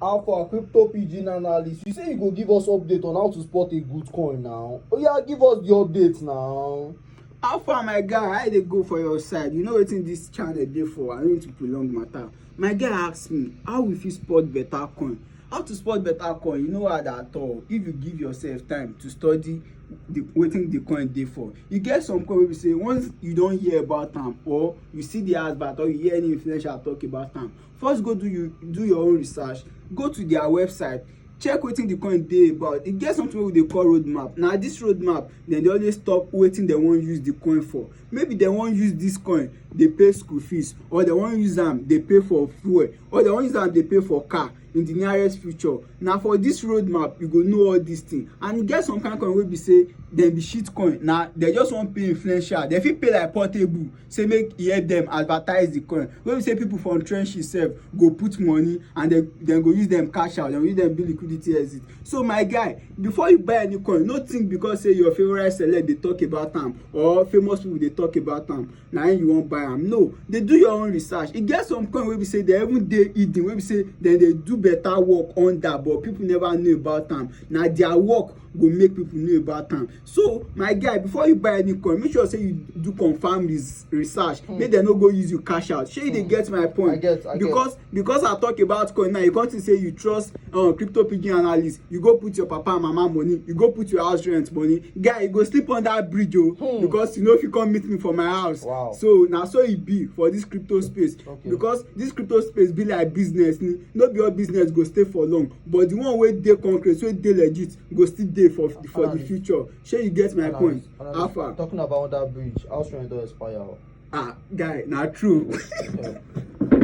Alpha crypto pidgin analyst, you say you go give us update on how to spot a good coin now. Oh yeah, give us the update now. How far my guy, how they go for your side? You know what in this channel dey for. I don't need to prolong matter. My guy asked me, how we fit spot better coin? How to spot better coin? You know what at all. If you give yourself time to study the waiting the coin dey for you get some coin wey be say once you don hear about am or you see the advert or you hear any influencer talk about am first go do you do your own research go to their website check wetin the coin dey about e get something wey we dey call road map na this road map dem dey always talk wetin dem wan use the coin for maybe dem wan use this coin dey pay school fees or dem wan use am dey pay for fuel or dem wan use am dey pay for car in the nearest future na for this road map you go know all these things and e get some kind coin wey be say dem be shit coin na dem just wan pay influencer dem fit pay like portable say make e help dem advertise the coin wey be say people from trenches sef go put money and dem dem go use dem cash out dem go use dem do liquidity exit so my guy before you buy any coin no think because say your favourite celeb dey talk about am or famous people dey talk about am na im you wan buy am no dey do your own research e get some coin wey be say dem even dey hidden wey be say dem dey do better work under but people never know about am na their work go make people know about am so my guy before you buy any coin make sure say you do confirm res research mm. make dem no go use you cash out shey you dey hmm. get my point I get, I because get. because i talk about coin now you come see say you trust uh, crypto piggy analyst you go put your papa and mama money you go put your house rent money guy you go sleep on that bridge o oh, hmm. because you know if you come meet me for my house wow. so na so e be for this crypto space okay. because this crypto space be like business ni no be all business go stay for long but the one wey dey concrete wey dey legit go still dey for for the future shey you get my point how far. talking about that bridge house rent don expire. ah guy na true.